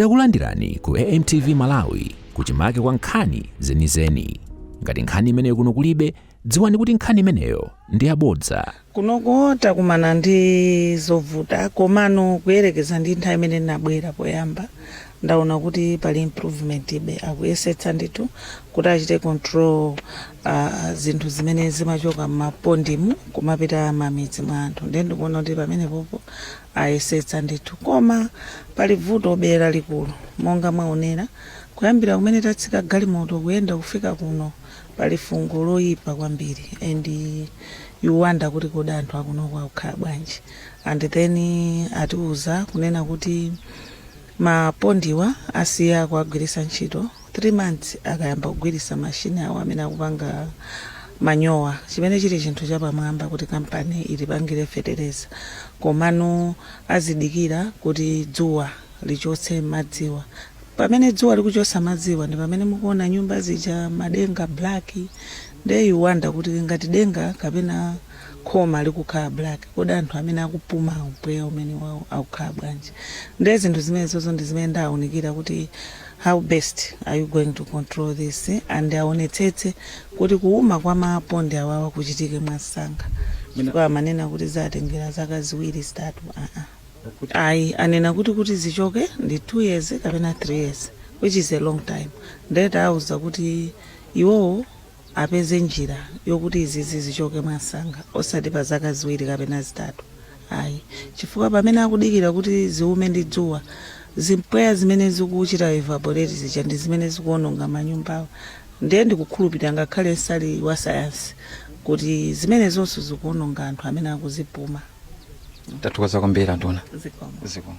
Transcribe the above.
Takulandirani ku AMTV Malawi kuchimake kwa nkhani zenizeni. Ngati nkhani imeneyo kuno kulibe, dziwani kuti nkhani imeneyo ndi yabodza. kunoko takumana ndi zovuta komano kuyerekeza ndi nthawi imene ndinabwera poyamba ndaona kuti pali improvement be akuyesetsa ndithu kuti achite control uh, zinthu zimene zimachoka m'mapondimu kumapita mamidzi mwa anthu ndiye ndikuona kuti pamenepopo ayesetsa ndithu koma pali vutobe lalikulu monga mwaonera kuyambira kumene tatsika galimoto kuyenda kufika kuno pali fungo loyipa kwambiri and you wonder kuti kodi anthu akunoko akukhala bwanji and then atiuza kunena kuti Mapondiwa asiya kuwagwirisa ntchito 3 months akayamba kugwirisa machine awo amene akupanga manyowa chimene chili chinthu chapamwamba kuti company izipangira fetereza komano akudikira kuti dzuwa lichotse madziwa pamene dzuwa likuchotsa madziwa ndipamene mukuona nyumba zija madenga black Nde you wonder kuti ngati denga kapena khoma likukhala black kodi anthu amene akupuma mpweya umenewau akukhala bwanji? Nde zinthu zimenezozo ndi zimene ndawaunikira kuti how best are you going to control this and awonetsetse kuti kuuma kwa mapondi awawa kuchitike mwansanga chifukwa amanena kuti ziwatengera zaka ziwiri, zitatu aa. Ayi anena kuti kuti zichoke ndi 2 years kapena 3 years which is a long time nde tawauza kuti Iwowo apeze njira yokuti izizi zichoke mwansanga osati pa zaka ziwiri kapena zitatu ayi chifukwa pamene akudikira kuti ziume ndi dzuwa, zimpweya zimene zikuchita evaporate zija ndi zimene zikuononga manyumbawo. Ndiye ndikukhulupirira ngakhale nsali wasayansi kuti zimenezonso zikuononga anthu amene akuzipuma. Tathokoza kwambiri anduna. Zikomo. Zikomo.